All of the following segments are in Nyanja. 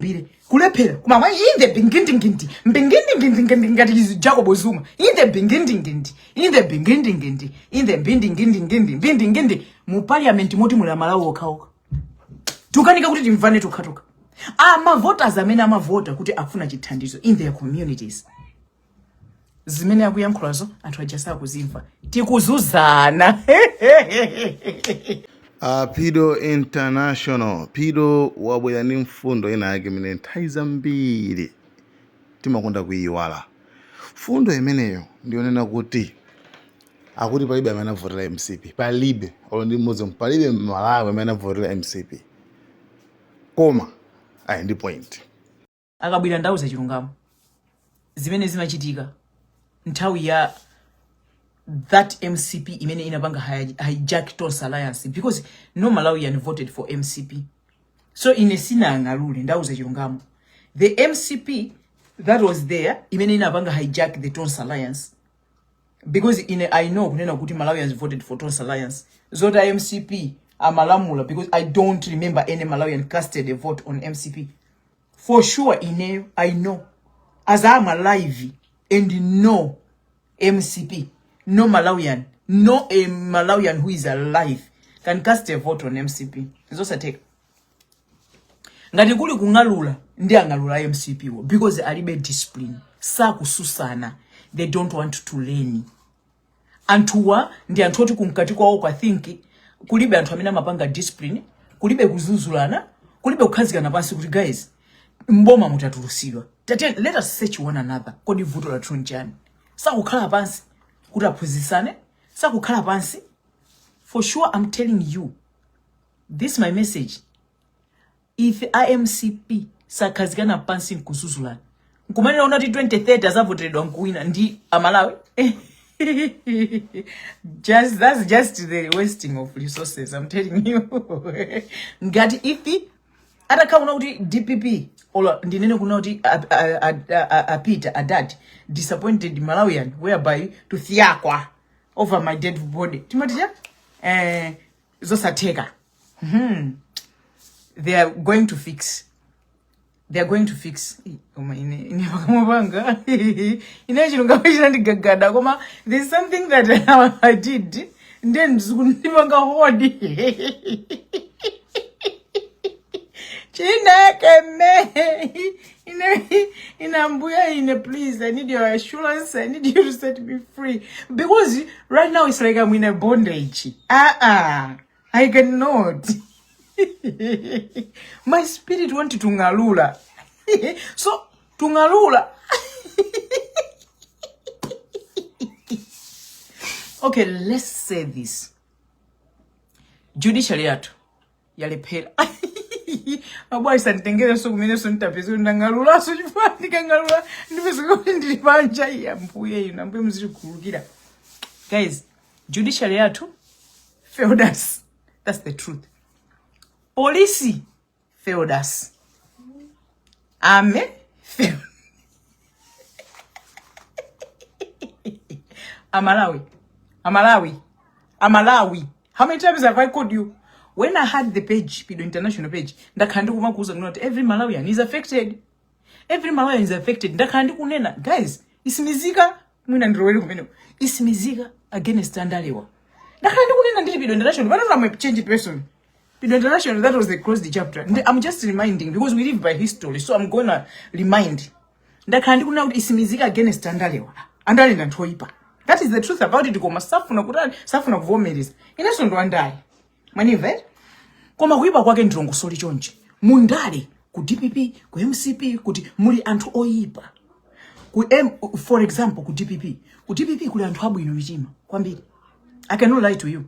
bire kulephera koma mwa inde bingindingindi mbingindingindingindi ngati izi jacob zuma inde bingindingindi inde bingindingindi inde mbindingindingindi mbindingindi mu parliament moti muli amalawi okhaoka tukanika kuti timvane tokhatokha amavoters amene amavota kuti akufuna chithandizo in their communities zimene akuyankhulazo anthu aja sakuzimva tikuzunzana Uh, Pido International. Pido wabwera ndi mfundo ina yake imene nthawi zambiri timakonda kuyiwala. Mfundo imeneyo ndiyonena kuti akuti palibe amene anavotera MCP, palibe olo ndi mmodzi, palibe Mmalawi amene anavotera MCP. Koma ayi ndi point. akabwera ndauza chilungamo zimene zimachitika nthawi ya that mcp imene inapanga hi- hijack tonse alliance because no malawian voted for mcp so ine sinang'alule ndauza chilungamo the mcp that was there imene inapanga hijack the tonse alliance because i know kunena kuti malawians voted for tonse alliance zoti a mcp amalamula because i don't remember any malawian casted a vote on mcp for sure ineyo i know as i am alive and no mcp no malawian no a malawian who is alive can cast a vote on mcp zosatheka ngati kuli kung'alula ndi ang'alula a mcp wo because alibe discipline sakususana they don't want to learn anthuwa ndi anthu oti kumkati kwawoko i think kulibe anthu amene amapanga discipline kulibe kudzudzulana kulibe kukhazikana pansi kuti guys mboma mutatulutsidwa Tate, let us search one another kodi vuto lathu nchani sakukhala pansi kuti aphunzitsane sakukhala pansi for sure i'm telling you this my message If a mcp sakhazikana pansi nkudzudzulana nkumanena kuna kuti 2030 azavoteredwa nkuwina ndi amalawi just that's just the wasting of resources i'm telling you ngati if atakhala kuna kuti dpp olo ndinene kuna kuti a- a- a- a- a- a Peter had disappointed malawian whereby to fiakwa over my dead body timati cha eh, zosatheka hmm. they are going to fix they are going to fix koma ine ine pakamwa panga ine chilungamo chinandigagada koma there is something that i did ndiye ndizikundipanga hold chineke me Ine, ine ambuya ine please I need your assurance I need you to set me free because right now it's like I'm in a bondage ah ah I cannot my spirit want to ngalula so to ngalula okay let's say this judiciary yathu yalephera mabwana sanditengerenso kumenenso nditapeza kuti ndang'alulanso chifukwa ndikang'alula ndipezeka kuti ndili panja iya ambuye inu ambuye muzitikhululukira guys judiciary yathu failed us that's the truth polisi failed us Amen. Amalawi. Amalawi. Amalawi. How many times have I called you? When I had the page, Pido International page, ndakhala ndikumakuuza kuti every Malawian is affected. Every Malawian is affected. Ndakhala ndikunena, guys, Msimidzika mwina ndirowere kumene. Isimizika against Andalewa. Ndakhala ndikunena ndili Pido International, but I'm a changed person. internationally that was the closed chapter and i'm just reminding because we live by history so i'm gonna remind ndakhala ndikunena kutsimikiza against andalewa, andale ndi anthu oyipa that is the truth about it koma safuna kutani safuna kuvomereza inenso ndi wandale mwandimva eti koma kuyipa kwake ndilongosole chonchi mu ndale ku dpp ku mcp ku UTM muli anthu oyipa ku M, for example ku dpp ku dpp kuli anthu abwino mitima kwambiri i cannot lie to you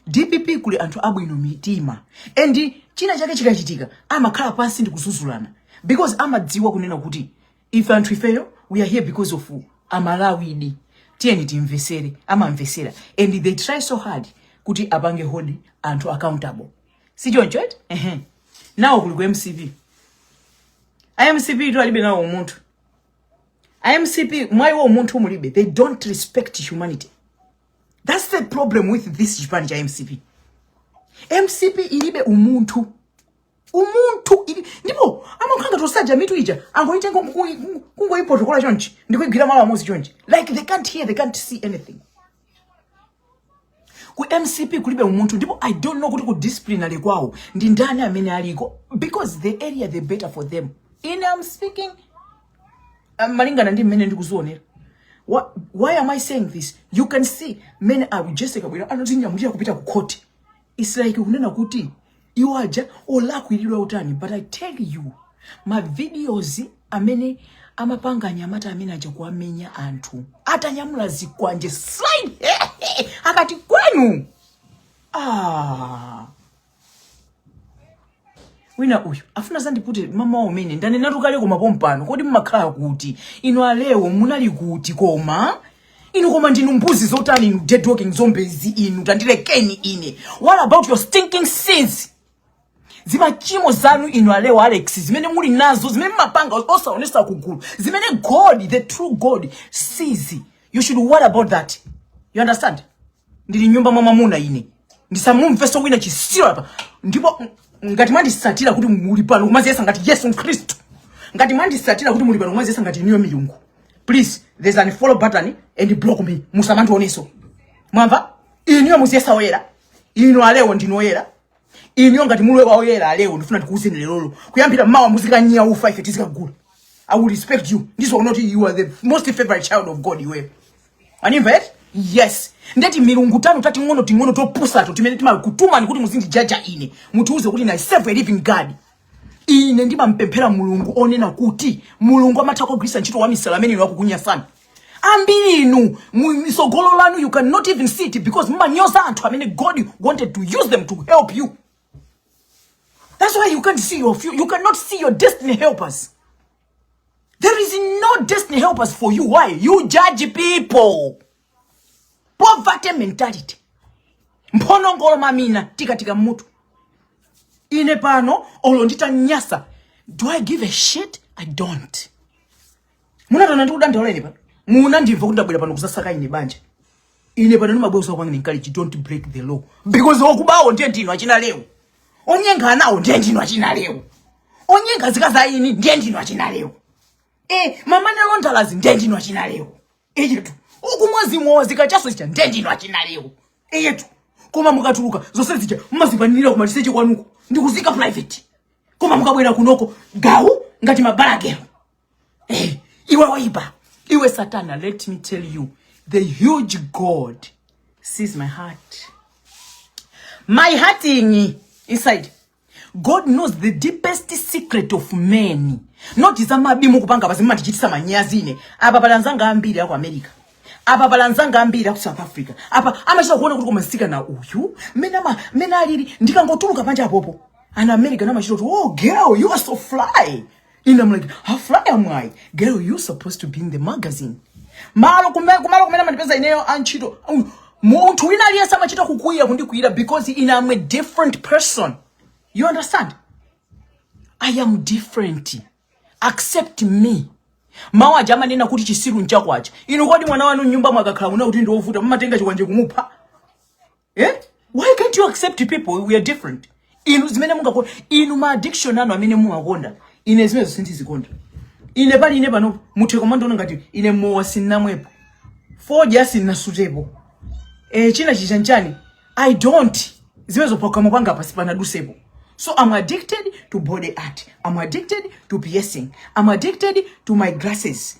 dpp kuli anthu abwino mitima and china chake chikachitika amakhala pansi ndi kudzudzulana because amadziwa kunena kuti ife anthu ifeyo we are here because of amalawidi tiyeni timvesere amamvesera and they try so hard kuti apange hold anthu accountable si choncho eti ehe now kuli ku mcp a mcp to alibe nawo umunthu a mcp mwa iwo umunthu mulibe they don't respect humanity That's the problem with this chipani cha MCP. MCP ilibe umunthu. Umunthu ilibe ndipo amakhala ngati those aja mitu ija angoitenga kungoipotokola chonchi ndikuigwira malo amodzi chonchi like they can't hear they can't see anything. Ku MCP kulibe umunthu ndipo I don't know kuti ku disciplinary kwawo ndi ndani amene aliko because the earlier the better for them. Ine I'm speaking Um, malingana ndi mmene ndikuzionera Why, why am I saying this? You can see mmene a Jessie Kabwila anadzinyamulira kupita ku court. It's like kunena kuti iwo aja olakwiridwa utani but I tell you ma videos amene amapanga anyamata amene aja kuwamenya anthu atanyamula zikwanje Silaj akuti kwanu ah wina uyu afuna azandipute mawa wawa umene ndanenatu kale koma pompano kodi mumakhala kuti inu a Leo munali kuti koma inu koma ndinu mbuzi zotani inu dead walking zombies inu tandilekeni ine what about your stinking sins zimachimo zanu inu a Leo Alex zimene muli nazo zimene mmapanga osaonesa ku gulu zimene god the true god sees you should worry about that you understand ndili m'nyumba mwa mwamuna ine ndisamumveso wina chitsiru apa ndipo ngati mwanditsatira kuti muli pano kumaziyesa ngati yesu khristu ngati mwanditsatira kuti muli pano kumaziyesa ngati inuyo milungu please there's unfollow button and block me musamandioneso mwamva inuyo muziyesa oyera inu a Leo ndinu oyera Inuyo ngati muli oyera a Leo ndifuna ndikuuzeni lero kuyambira mawa muzikanyia ufa ife tizikagula. I will respect you. Ndiziwa kuti you are the most favorite child of God iwe. Wandimva eti? Yes. Nde timilungu tanu tating'onoting'ono topusato timene timakutumani kuti muzindijaja ine. Mutiuze kuti ine I serve a living God. Ine ndimapemphera Mulungu onena kuti Mulungu amatha kugwiritsa ntchito wamisala amene inu akukunyasani. ambiri inu misogolo lanu you cannot even see it because mumanyoza anthu amene god wanted to use them to help you that's why you can't see your future you cannot see your destiny helpers there is no destiny helpers for you why you judge people poverty mentality mphonongolo mamina tikatika mmutu ine pano olo nditanyasa do i give a shit i don't Munandiona ndikudandaula ine pano. Munandimva kuti ndabwera pano kuzasaka ine banja. Ine pano ndimabweretsa kwangu encourage don't break the law. Because okubawo ndiye ndinu achina leo. Onyenga anawo ndiye ndinu achina leo. Onyenga zikaza ini ndiye ndinu achina leo. Eh, mama na londalazi ndiye ndinu achina leo. Iye tu. Uku mwazi mwazi kachaso chicha ndiye ndinu achina leo. Iye tu. Koma mukatuluka zonse zicha mmazipangira ku maliseche kwanuko. Ndikuzika private. Koma mukabwera kunoko gawu ngati mabalagelo. Eh, iwe waiba iwe satana let me tell you the huge god sees my heart my heart inyi inside god knows the deepest secret of men not zamanyi mukupanga apa zimatichitisa manyazi ine apa pali anzanga ambiri aku america apa pali anzanga ambiri aku south africa apa amachita kuona kuti koma msikana uyu mmene ama- mmene alili ndikangotuluka panja apopo anthu america amachita kuti oh girl you are so fly and I'm like how fly am I girl you supposed to be in the magazine malo kumene kumalo kumene amandipeza ineyo a ntchito um, munthu wina aliyense amachita kukwiyira kundikwiyira because ine I'm a different person you understand I am different accept me mawu aja amanena kuti chisiru nchako chako inu kodi mwana wanu mnyumba mwake akakhala kuona kuti ndiovuta mumatenga chikwanje kumupha eh? why can't you accept people we are different inu zimene mungakonda inu ma addiction anu amene mumakonda ine zimezo sindizikonda ine pali ine pano muthe kumandiona ngati ine mowa sinnamwepo fodya sinnasutepo eh, china chichani chani i don't zimezo pakamwa panga basi sipanadusepo So I'm addicted to body art. I'm addicted to piercing. I'm addicted to my glasses.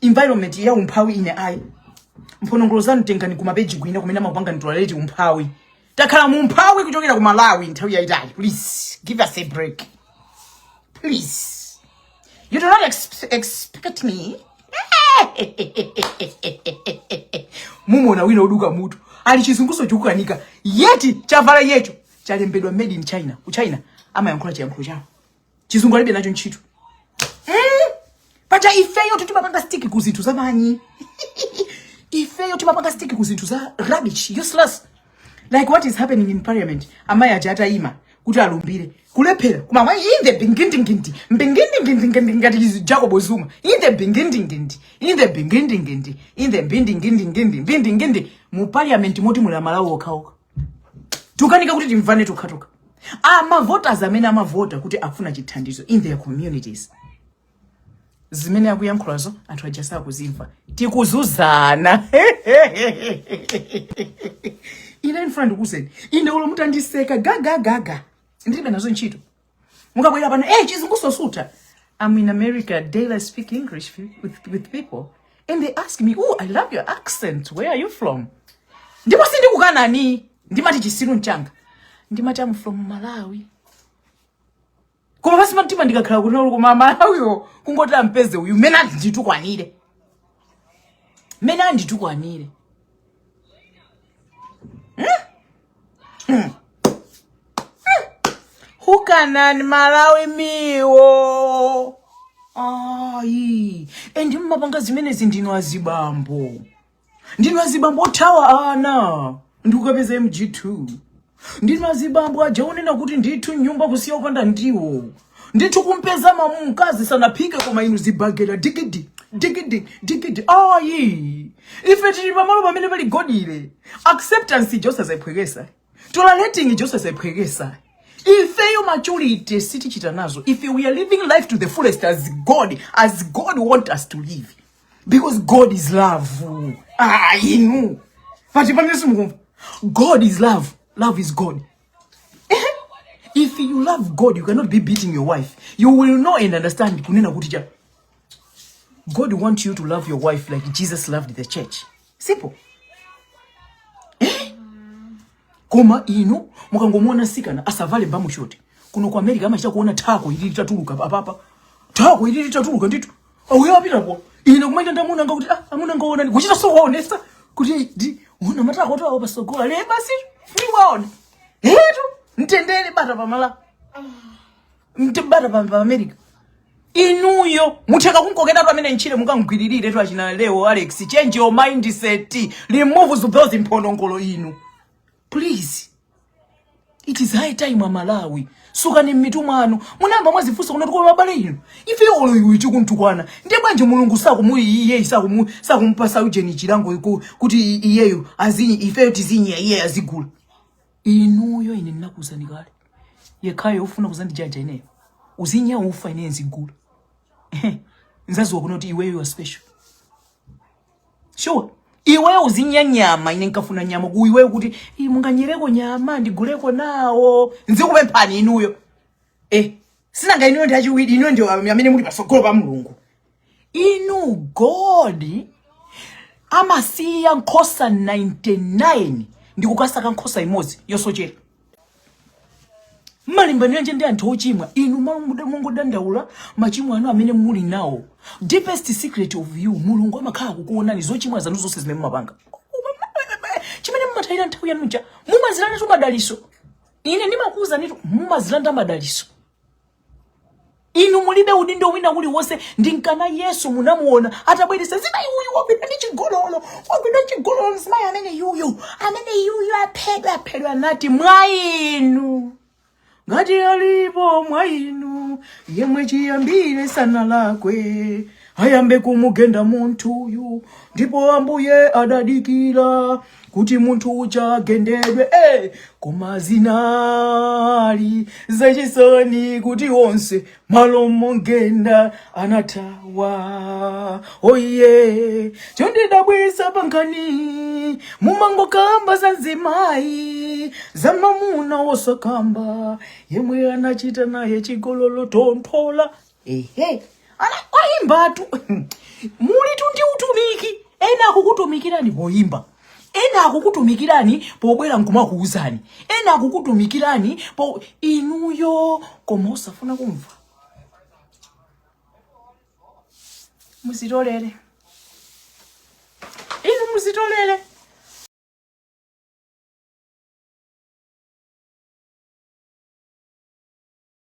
environment ya umphawi ine ayi mphonongolo zanu tengani kumapeji kwina kumene amapanga tolerate umphawi takhala mu umphawi kuchokera ku malawi nthawi yayitali please give us a break please you do not ex expect me mumona wina oduka mutu ali chizunguso chikukanika yet chavala yecho chalembedwa made in china ku china amayankhula chiyankhulo chawo chizungu alibe nacho ntchito mm. paja ifeyo timapanga stick ku zinthu zamanyi ifeyo timapanga stick ku zinthu za rubbish useless like what is happening in parliament amayi aja atayima kuti alumbire kulephera kumati in the bingindingindi mbingindingindingindi ngati chizi- jacob zuma in the bingindingindi in the bingindingindi in the mbindingindingindi mbindingindi mu parliament momwe muli amalawi okhaokha tukanika kuti timvane tokhatokha amavoters amene amavota kuti afuna chithandizo in their communities zimene akuyankhulazo anthu aja sakuzimva tikuzuzana ine ndifuna ndikuuzeni ine olo mutandiseka gagagaga ndilibe nazo ntchito mukabwera pano eh chizungu sosuta I'm in America daily I speak English with, with people and they ask me oh I love your accent where are you from ndipo sindikukanani ndimati chisiru mchanga ndimati I'm from Malawi koma pasi pamtima ndikakhala kuti kuno koma Amalawiwo kungoti ampeze uyu mene anditukwanire mene anditukwanire hmm? Hukanani Amalawi miwo ayi and mmapanga zimenezi ndinu azibambo ndinu azibambo othawa ana ndikukapeza mg2 ndinu azibambo aja unena kuti ndithu nyumba kusiya opanda ndiwo ndithu kumpeza mamu mkazi sanaphike koma inu zibagera digidi digidi digidi ayi ife tili pamalo pamene pali godly acceptance ija osazayiphwekesa tolerating ija osazayiphwekesa ifeyo maturity sitichita nazo ife we are living life to the fullest as god as god want us to live because god is love ah inu pati pamene simukumva god is love love is god if you love god you cannot be beating your wife you will know and understand kunena kuti cha god want you to love your wife like jesus loved the church simple eh? koma inu mukangomuona tsikana atavala mbamu shoti kuno ku america amachita kuona thako ili litatuluka apapa thako ili litatuluka ndithu Auyo apitapo. Ine kumayenda ndi amuna anga kuti ah amuna anga aona kuchita so honest kuti dii una matakotu awo pasogola basi ni waona. Eetu ntendele bata pamalo. Ndi bata pa pa America. Inuyo mutheka kunkokeratu ameneyo ntchire mukangwiririretu achina Leo Alex change your mindset remove those mphonongolo inu. please it is high time amalawi sukani mmitu mwanu munayamba mwazifunsa kunena kuti kwa abale inu ife olo iwe tikuntukwana ndiye bwanji mulungu sakumu iyeyi sakumu sakumupasa ujeni chilango kuti iyeyo azinya ifeyo tizinya iyeyo azigula inuyo ine ndinakuuzani kale yekhayo ufuna kuzandijaja ineyo uzinya ufa ineyo nzigula nzaziwa kunena kuti iweyo wa special sure iweyo uzinya nyama ine nkafuna nyama ku iweyo kuti "Ii, munganyereko nyama ndiguleko nawo nzikupemphani inuyo eh sinanga inuyo ndi achiwiri inuyo ndi amene muli pasogolo pa mulungu inu god amasiya nkhosa 99 ndi kukasaka nkhosa imodzi yosochera mumalimbaniranji ndi anthu ochimwa inu mmalo mongodandaula machimo anu amene muli nawo deepest secret of you mulungu amakhala kukuonani zochimwa zanu zonse zimene mumapanga chimene mumatayira nthawi yanuja mumadzilandatu madaliso ine ndimakuuzanitu mumadzilanda madaliso inu mulibe udindo wina uliwonse ndinkana yesu munamuona atabweretsa mzimayi uyu wagwidwa ndi chigololo wagwidwa ndi chigololo mzimayi amene yuyu amene yuyu aphedwe aphedwe anati mwa inu ngati alipo mwa inu yemwe chiyambire sanalakwe ayambe kumugenda munthuyu ndipo ambuye adadikira kuti munthu uja agendedwe eh, koma zinali zachisoni kuti onse malo momugenda anathawa oye chondidabwisa pankhani mumangokamba za mzimayi za mamuna osakamba yemwe anachita naye chigololo tonthola ehe ana oyimbatu mulitu ndi utumiki ena akukutumikirani poyimba ena akukutumikirani pobwera nkumakuwuzani ena akukutumikirani po inuyo koma osafuna kumva mudzitolere inu mudzitolere